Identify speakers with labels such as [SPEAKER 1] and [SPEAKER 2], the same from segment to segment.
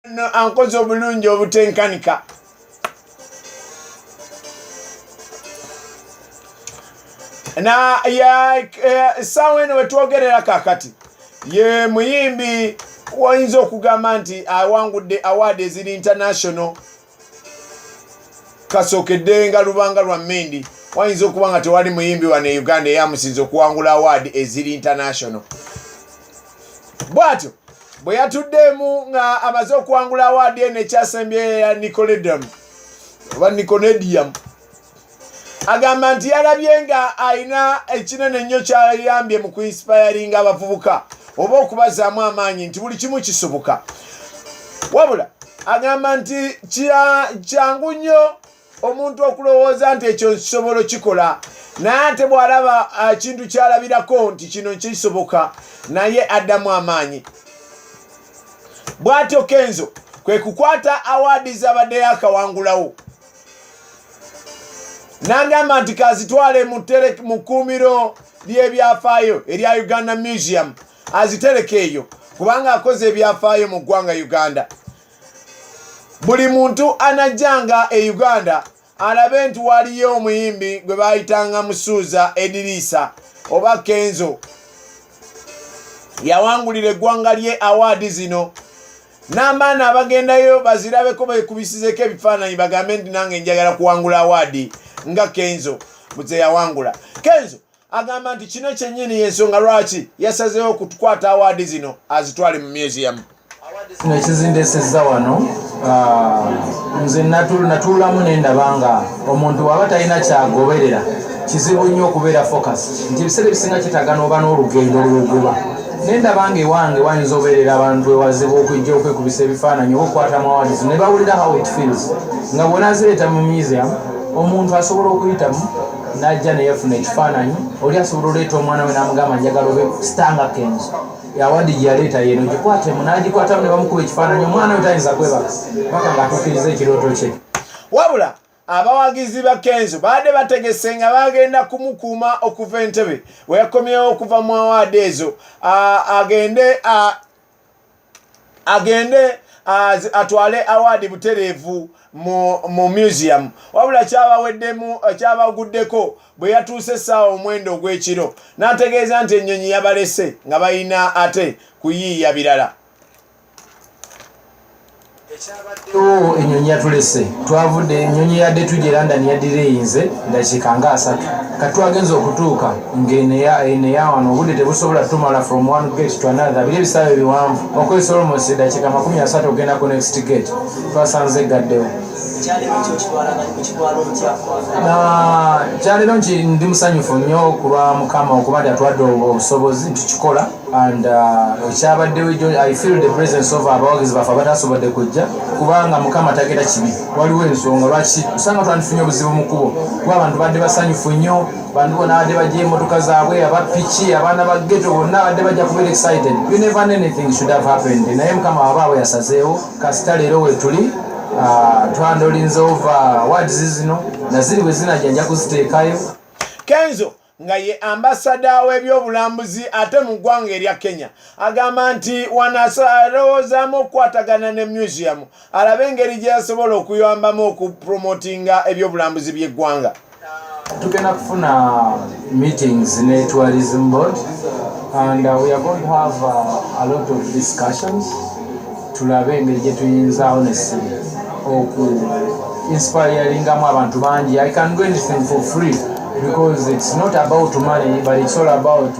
[SPEAKER 1] no ankoze obulungi obutenkanika na ya essaawa eno wetwogerera kakati ye muyimbi wayinza okugamba nti awangudde awaadi eziri international kasookedde nga lubanga lwa mindi wayinza okuba nga tewali muyimbi wano e uganda eyamusinza okuwangula awaadi eziri international bwatyo bwe yatuddeemu nga amaze okuwangula awaadi eno ekyasembyeyo ya nicoledon oba niconedium agamba nti yalabye nga alina ekinene nnyo kyayambye mu kuinsipayaringa abavubuka oba okubazaamu amaanyi nti buli kimu kisoboka wabula agamba nti kyangu nnyo omuntu okulowooza nti ekyo nkisobolo kikola naye ate bw'alaba ekintu ah, kyalabirako nti kino kisoboka naye addamu amaanyi bw'atyo kenzo kwe kukwata awaadi z'abaddeyo akawangulawo nangamba nti kazitwale mu kkuumiro ly'ebyafaayo erya uganda museum azitereka eyo kubanga akoze ebyafaayo mu ggwanga uganda buli muntu anajjanga e uganda alabe nti waliyo omuyimbi gwe bayitanga musuuza ediriisa oba kenzo yawangulira eggwanga lye awaadi zino n'abaana abagendayo bazirabeko bekubisizeko ebifaananyi bagambe nti nange njagala kuwangula awaadi nga kenzo muzeyawangula kenzo agamba nti kino kyenyini yensonga lwaki yasazeewo okutukwata awaadi zino azitwale mu museum kino ekizindesezza
[SPEAKER 2] wano ah, nze natuulamu nendaba nga omuntu waba talina kyagoberera kizibu nnyo okubeera focus nti ebiseera ebisinga kitagana oba n'olugendo lwoguba ne ndaba ng'ewange wayinza obeerera abantu ewazibu okujja okwekubisa ebifaananyi oba okukwata amawadis ne bawulira how it feels nga bwona azireeta mu museum omuntu asobola okuyitamu n'ajja neyefuna ekifaananyi oli asobola oleeta omwana we n'amugamba njagala obe stanga kenzo yawadi gyeyaleeta yeno gikwatemu n'agikwatamu ne bamukuba ekifaananyi omwana we tayinza kwebaka paka ng'atuukiriza ekirooto kye wabula
[SPEAKER 1] abawagizi ba kenzo baadde bategese nga bagenda kumukuuma okuva entebe weyakomyewo okuva mu awaadi ezo agende agende atwale awaadi butereevu mu museum wabula kyabaweddemu kyabaguddeko bwe yatuuse essaawa omwenda ogw'ekiro n'ategeeza nti ennyonyi yabalese nga balina ate kuyiiya birala
[SPEAKER 2] ekyabaddewo enyonyi yatulese twavudde enyonyi yadde tujje london yadira eyinze dakiika nga asatu kati twagenza okutuuka ngeneyawano eh, obudde tebusobola tumala from one gate to another biri ebisaabe biwanvu okozesa olmos dakiika makumi asatu okugenda ku next gate twasanze gaddewo kyalero nti ndi musanyufu nnyo okulwa mukama okuba nti atwadde obusobozi nti kikola and uh, ekyabaddewo ejo i feel the presence of abawagizi baffe abatasobodde kujja kubanga mukama tagenda kibi waliwo ensonga lwaki osanga twandifunye obuzibu mu kubo kuba abantu badde basanyufu nnyo bantu bona badde bajja emotoka zaabwe abapiki abaana ba geto bonna badde bajja kubeera excited you never anything should have happened naye mukama wabaabwe yasazeewo kasita leero wetuli uh, twandolinze ova wadizi zino naziri bwe zinajja nja kuziteekayo kenzo
[SPEAKER 1] nga ye ambasada w'ebyobulambuzi ate mu ggwanga erya kenya agamba nti wanasalowoozaamu okukwatagana ne museum alabe engeri gye yasobola okuyambamu okupromotinga ebyobulambuzi by'eggwanga tugenda
[SPEAKER 2] kufuna meetings ne tourism board and uh, we are going to have uh, a lot of discussions tulabe engeri gye tuyinzaawo nessimu oku inspiringamu abantu bangi i can do anything for free because it's not about money but it's all about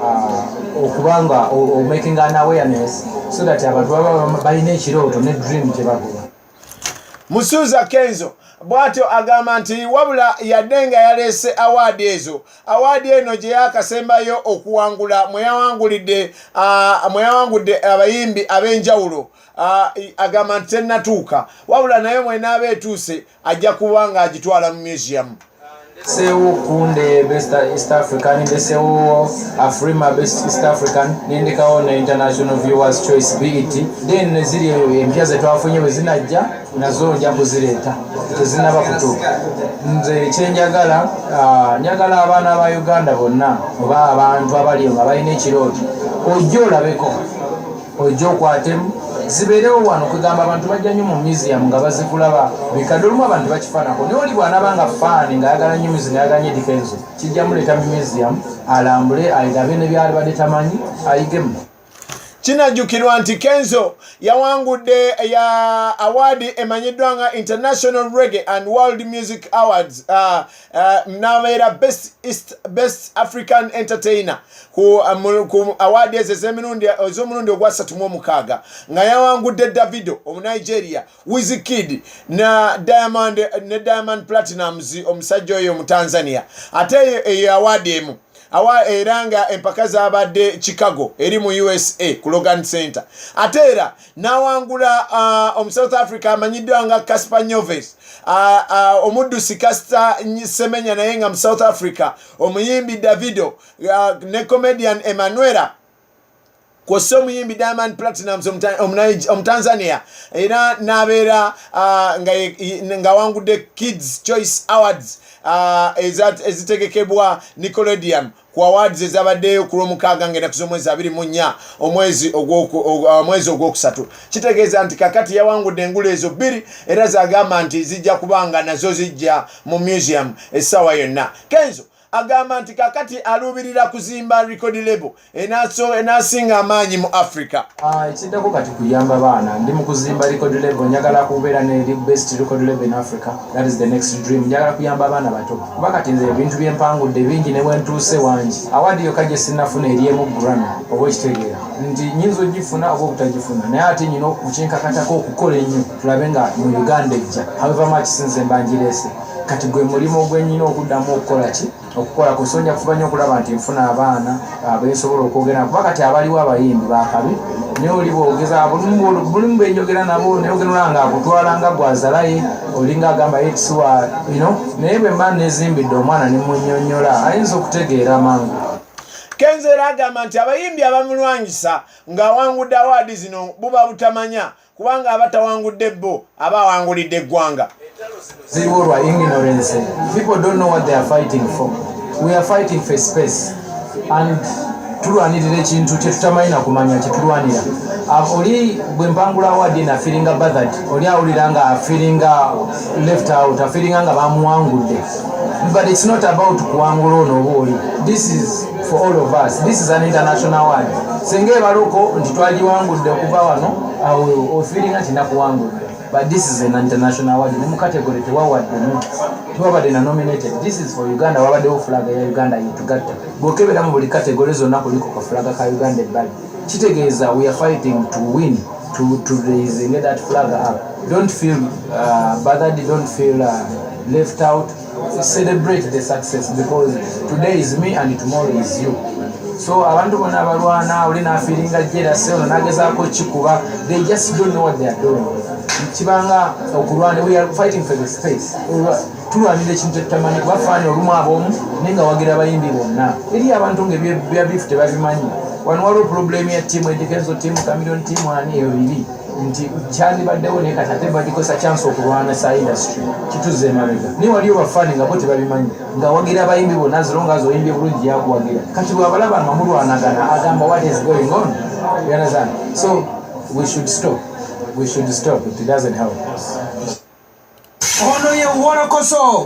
[SPEAKER 2] uh, okuba nga omaking an awareness so that abantu baba balina ekirooto ne dream kyebagoba musuuza
[SPEAKER 1] kenzo bw'atyo agamba nti wabula yadde nga yaleese awaadi ezo awaadi eno gye yaakasembayo okuwangula mwe yawangulidde mwe yawangudde abayimbi ab'enjawulo agamba nti tennatuuka wabula naye mwenaaba etuuse ajja kuba ng'agitwala mu museum sewo
[SPEAKER 2] kunde best east african nde sewo afrima best east african nendekawo ne international viewers choice bet then neziri empya zetwafunye wezinajja nazo nja kuzireeta tezinaba kutuuka nze kyenjagala ah, njagala abaana ba uganda bonna oba abantu abali nga balina ekirooto ojja olabeko ojja okwatemu zibeerewo wano kwegamba abantu bajja nyo mu museum nga bazikulaba bikadde olumu abantu bakifanako naye oli bwanaba nga faani ngaayagala nyo museum ayaganye difenso kijja muleeta mu museum alambule airabe ne byali badde tamanyi ayigemu kinajjukirwa
[SPEAKER 1] nti kenzo yawangudde ya awaadi emanyiddwa nga international reggae and world music awards uh, Eh, nabeera best east best african entertainer ku eh, awaadi ezo ez'omulundi ogwasatu mu omukaaga nga yawangudde davido omunigeria wizikid na diamond ne diamond platinums omusajja oyo omutanzania ate eyo eyo awaadi emu awa era nga empaka zabadde chicago eri mu usa ku logan center ate era n'awangula uh, omu south africa amanyiddwa nga casper nyoves uh, uh, omuddusi casita semenya naye nga mu south africa omuyimbi davido uh, ne comedian emanuela kwossa omuyimbi diamond platinums omutanzania era n'abeera uh, ng'awangudde kids choice awards uh, ezitegekebwa nicolodium ku awards ezabaddeyo ku lwomukaaga ngenda ku z'omwezi abiri mu nnya omwezi uh, ogwokusatu kitegeeza nti kakati yawangudde engulu ezo bbiri era zagamba nti zijja kuba nga nazo zijja mu museum essaawa yonna kenzo agamba nti kakati aluubirira kuzimba record label enasinga amaanyi mu africa Ah, ekiddako kati
[SPEAKER 2] kuyamba baana ndi mukuzimba record level njagala kubeera ne best record level in africa that is the next dream njagala kuyamba abaana bato kuba kati nze ebintu byempangudde bingi ne bwentuuse wangi awaadi yokka gye sinnafuna eryemu grami oba okitegeera nti nyinza ogifuna oba obutagifuna naye ate nyina okukinkakatako okukola ennyo tulabe nga mu uganda ejja however much sinze mbanjireese kati gwe mulimu gwenyina okuddamu okukola ki okukola ku sonja kufuba nnyo okulaba nti nfuna abaana abesobola okwogera kuba kati abaliwo abayimbi bakabi naye oli bwogeza bulimu benjogera nabo nayogerera nga akutwala nga gwazalaye olinga agamba yetisiwa ino naye bwe mba nezimbidde omwana nemunyonyola ayinza okutegeera mangu kenzo
[SPEAKER 1] era agamba nti abayimbi abamulwanyisa ng'awangudde awaadi zino buba butamanya kubanga aba tawangudde bo aba awangulidde eggwanga ziriwo lwa
[SPEAKER 2] ignorance people don't know what they are fighting for we are fighting for space and tulwanirira ekintu kyetutamanyi nakumanya kyetulwanira ah, oli bwempangula awadi nafiringa bathad oli awulira nga afiringa left out afiringa nga bamuwangudde but it's not about kuwangula ono oba oli this is for all of us this is an international word singa ebaluko nti twagiwangudde okuva wano awo ofiringa nti nakuwangudde but this is an international word ne mu category tewawaddemu tewabadde na nominated this is for uganda wabaddewo fulaga ya uganda yetugatta bwokebera mu buli category zonna kuliko ka fulaga ka uganda ebbali kitegeeza we are fighting to win to, to raising that flag up don't feel uh, bothered don't feel uh, left out celebrate the success because today is me and tomorrow is you so abantu bona abalwana oli nafiringa jerase ono nagezaako kikuba they just don't know what they are doing kibanga okulwana we are fighting for the space tulwanira ekintu ekitamanyi kuba faani olumu abomu naye nga wagira abayimbi bonna eri abantu nga ebyabifu tebabimanyi wano waliwo problemu ya tiamu edikezo tiamu kamilion tiamu ani eyo biri nti kyandibaddewo naye kati ate bagikozesa kyansi okulwana sa industry kituzza emabega naye waliyo bafani nga bo tebabimanyi ngawagira abayimbi bonna zironga azi oyimbye bulungi yakuwagira kati bwabalaba nga mulwanagana agamba what is going on you understand so we should stop we should stop it doesn't
[SPEAKER 3] help us
[SPEAKER 2] ono ye wolokoso